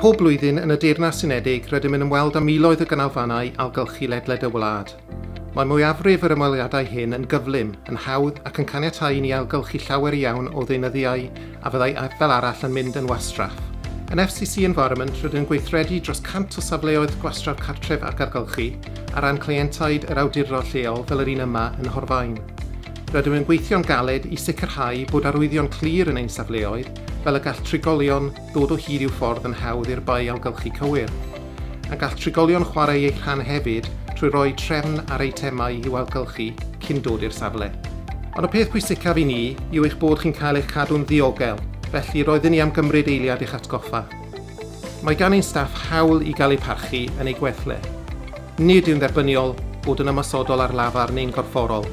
Pob blwyddyn yn y Deyrnas Unedig rydym yn ymweld â miloedd o ganolfannau ailgylchu ledled y wlad. Mae mwyafrif yr ymweliadau hyn yn gyflym, yn hawdd ac yn caniatáu i ni ailgylchu llawer iawn o ddeunyddiau a fyddai fel arall yn mynd yn wastraff. Yn FCC Environment rydyn yn gweithredu dros 100 o safleoedd gwastraff cartref ac ailgylchu ar ran cleientiaid yr awdurdod lleol fel yr un yma yn Nhorfaen. Rydym yn gweithio'n galed i sicrhau bod arwyddion clir yn ein safleoedd, fel y gall trigolion ddod o hyd i'w ffordd yn hawdd i'r bae ailgylchu cywir. A gall trigolion chwarae eu rhan hefyd trwy roi trefn ar eitemau i'w ailgylchu cyn dod i'r safle. Ond y peth pwysicaf i ni yw eich bod chi'n cael eich cadw'n ddiogel, felly roedden ni am gymryd eiliad i'ch atgoffa. Mae gan ein staff hawl i gael eu parchu yn eu gwell le. Nid yw'n dderbyniol bod yn ymosodol ar lafar neu'n gorfforol.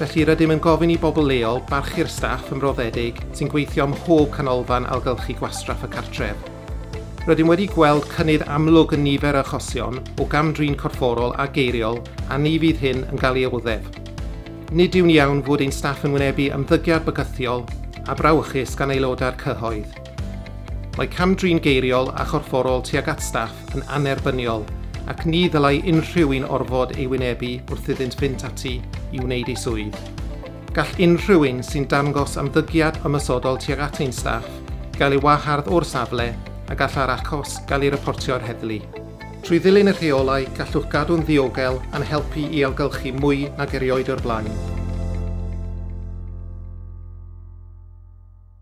Felly, rydym yn gofyn i bobl leol barchu'r staff ymroddedig sy'n gweithio ym mhob canolfan ailgylchu gwastraff y cartref. Rydym wedi gweld cynnydd amlwg yn nifer yr achosion o gam-drin corfforol a geiriol a ni fydd hyn yn cael ei oddef. Nid yw'n iawn fod ein staff yn wynebu ymddygiad bygythiol a brawychus gan aelodau'r cyhoedd. Mae cam-drin geiriol a chorfforol tuag at staff yn annerbyniol ac ni ddylai unrhyw un orfod ei wynebu wrth iddynt fynd ati i wneud eu swydd. Gall unrhyw un sy'n dangos ymddygiad ymosodol tuag at ein staff gael ei wahardd o'r safle a gallai'r achos gael ei reportio i'r heddlu. Trwy ddilyn y rheolau, gallwch gadw'n ddiogel a'n helpu i ailgylchu mwy nag erioed o'r blaen.